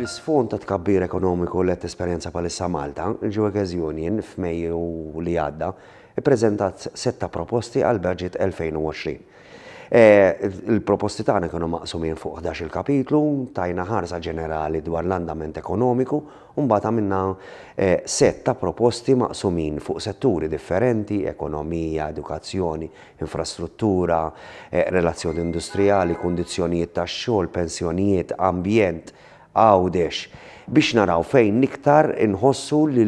Fl-isfond tat-tkabbir ekonomiku li qed tesperjenza bħalissa Malta, il-Geueges Union, f'Mejju li għadda, ippreżentat sett ta' proposti għall-Budget 2020. Il-proposti tagħna kienu maqsumin fuq ħdax-il kapitlu, tajna ħarsa ġenerali dwar l-andament ekonomiku u mbagħad għamilna sett ta' proposti maqsumin fuq setturi differenti, ekonomija, edukazzjoni, infrastruttura, relazzjoni industrijali, kundizzjonijiet tax-xogħol, pensjonijiet, ambjent, Għawdex, biex naraw fejn l-iktar inħossu li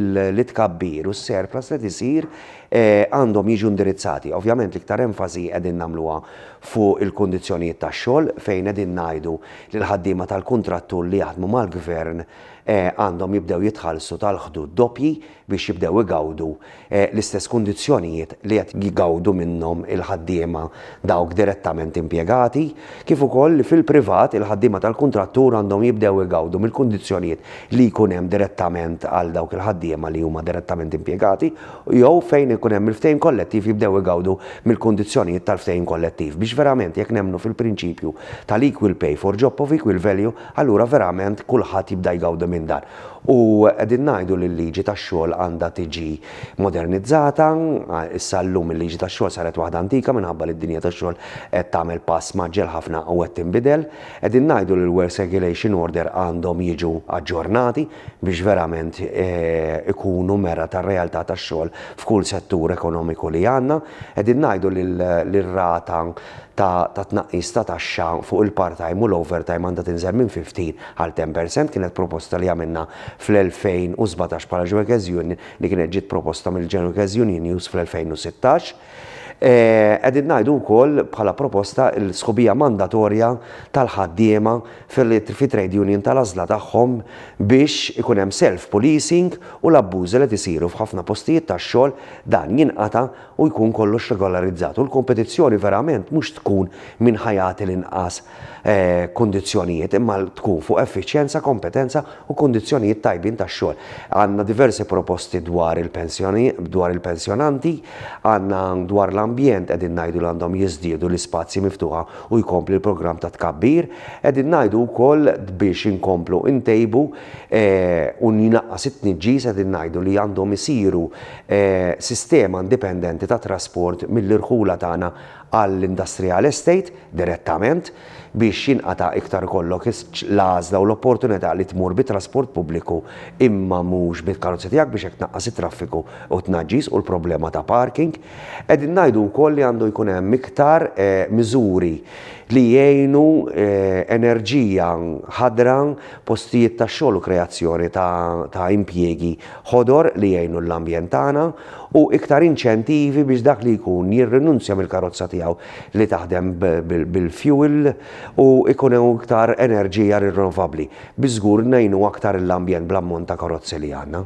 t-tkabbir u s-surplus li qed isir għandhom jiġu indirizzati. Ovvjament l-iktar enfasi qegħdin nagħmluha fuq il-kundizzjonijiet tax-xogħol fejn qegħdin ngħidu li l-ħaddiema tal-kuntrattur li jaħdmu mal-Gvern għandhom jibdew jitħallsu tal-ħdud doppji biex jibdew igawdu l-istess kundizzjonijiet li qed jgawdu minnhom il-ħaddiema dawk direttament impjegati, kif ukoll li fil-privat il-ħaddiema tal-kuntrattur għandhom jibdew igawdu mill-kundizzjonijiet li jkun hemm direttament għal dawk il-ħaddiema li huma direttament impjegati jew, fejn ikun hemm il-ftehim kollettiv, jibdew igawdu mill-kundizzjonijiet tal-ftehim kollettiv. Biex verament jekk nemmnu fil-prinċipju tal-equal pay for job of equal value, allura verament kulħadd jibda jgawdi minn dan. U qegħdin ngħidu li l-liġi tax-xogħol għandha tiġi modernizzata. Issa llum il-liġi tax-xogħol saret waħda antika minħabba li d-dinja tax-xogħol qed tagħmel pass mgħaġġel ħafna u qed tinbidel. Qegħdin ngħidu li l-Works Regulation Order għandhom jiġu aġġornati biex verament ikunu mera tar-realtà tax-xogħol f'kull settur ekonomiku li għandna. Qegħdin ngħidu li r-rata ta' ta' tnaqqis ta' taxxa fuq il-part-time u l-overtime għandha tinżel minn 15 għal 10 per cent kienet proposta li għamilna fl-2017 bħala Ġwekeż Union li kienet ġiet proposta mill-Ġwekeż Unionjus fl-2016. Qegħdin ngħidu wkoll bħala proposta l-sħubija mandatorja tal-ħaddiema fit-trade union tal-għażla tagħhom biex ikun hemm self-policing u l-abbużi li qed isiru f'ħafna postijiet tax-xogħol dan jinqata' u jkun kollox regolarizzat u l-kompetizzjoni verament mhux tkun min ħa jagħti l-inqas kundizzjonijiet imma tkun fuq effiċjenza, kompetenza u kundizzjonijiet tajbin tax-xogħol. Għandna diversi proposti dwar il-pensjoni, dwar il-pensjonanti, għandna dwar l-ambjent qegħdin ngħidu li għandhom jiżdiedu l-ispazji miftuħa u jkompli l-programm ta' tkabbir, qegħdin ngħidu wkoll biex inkomplu ntejbu u jnaqqas it-tniġġis qegħdin ngħidu li għandhom isiru sistema indipendenti ta' trasport mill-irħula tagħna għall-industrial estate direttament biex jinqata' iktar ikollok l-għażla u l-opportunità li tmur bi trasport pubbliku imma mhux bil-karozza tiegħek biex hekk tnaqqas it-traffiku u t-tnaġġis u l-problema ta' parking. Qegħdin ngħidu wkoll li għandu jkun hemm iktar miżuri li jgħinu enerġija ħadra, postijiet tax-xogħol u kreazzjoni ta' impjiegi ħodor li jgħinu l-ambjent tagħna u iktar inċentivi biex dak li jkun jirrinunzja mill-karozza tiegħu li taħdem bil-fjuwil u jkun hawn iktar enerġija rinnovabbli. Bi żgur ngħinu aktar l-ambjent bl-ammont ta' karozzi li għandna.